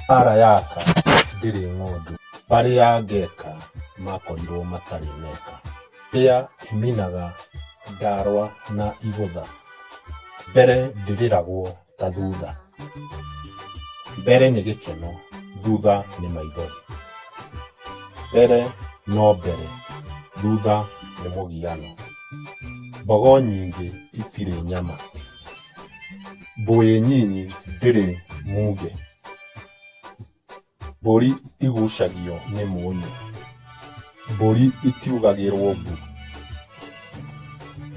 Mbaara yaka ndĩrĩ ng'ũndũ, barĩa ngeka makorirwo matarĩ meka. Mbĩa ĩminaga ndarwa na igũtha, mbere ndĩrĩragwo ta thutha. Mbere nĩ gĩkeno, thutha nĩ maithori. Mbere no mbere, thutha nĩ mũgiano. mbogo nyingĩ itirĩ nyama mbũĩ nyinyi ndĩrĩ munge mbũri igucagio nĩ mũnyũ mbũri itiugagĩrwo mbu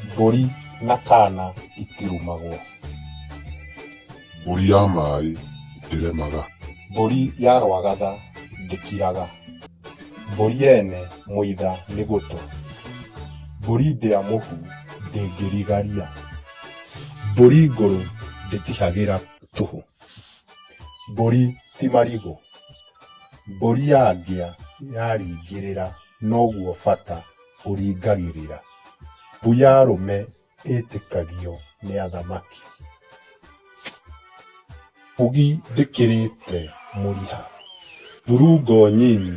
mbũri na kana itirumagwo Mbũri ya maĩ ndĩremaga. Mbũri ya rwagatha ndĩkiraga. Mbũri yene mũitha nĩ gũtũ. Mbũri ndĩa mũhu ndĩngĩrigaria. Mbũri ngũrũ ndĩtihagĩra tũhũ. Mbũri ti marigũ. Mbũri ya ngĩa yaringĩrĩra noguo bata ũringagĩrĩra. Mbu ya rũme. ĩtĩkagio nĩ athamaki. Ugi ndĩkĩrĩte mũriha. Thurungo nyinyi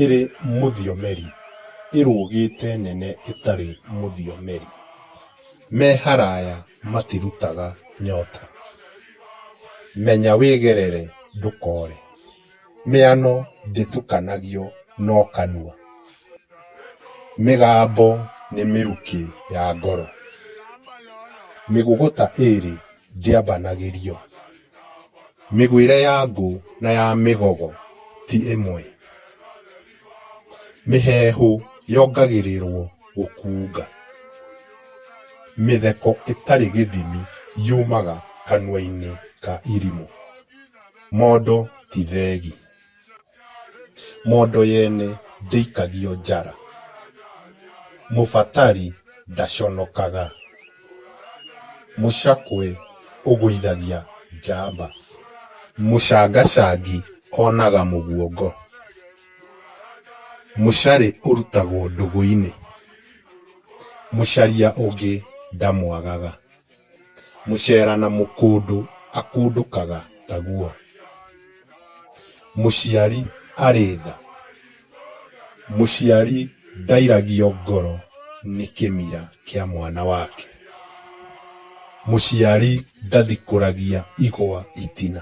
ĩrĩ mũthiomeri ĩrũgĩte nene ĩtarĩ mũthiomeri. Me haraya matirutaga nyota. Menya wĩgerere ndũkore. Mĩano ndĩtukanagio no kanua, mĩgambo nĩ mĩrukĩ ya ngoro. Mĩgũgũta ĩĩrĩ ndĩambanagĩrio, mĩgwĩre ya ngũ na ya mĩgogo ti ĩmwe. Mĩheehũ yongagĩrĩrwo gũkuunga, mĩtheko ĩtarĩ gĩthimi yumaga kanua-inĩ ka irimũ. Mondo ti thegi. Mondo yene ndĩikagio njara. Mũbatari ndaconokaga. Mũcakwe ũgũithagia njamba. Mũcangacangi onaga mũguongo. Mũcarĩ ũrutagwo ndũgũ-inĩ. Mũcaria ũngĩ ndamwagaga. Mũcera na mũkũndũ akundũkaga taguo. Mũciari arĩ tha. Mũciari ndairagio ngoro nĩ kĩmira kĩa mwana wake. Mũciari ndathikũragia igwa itina.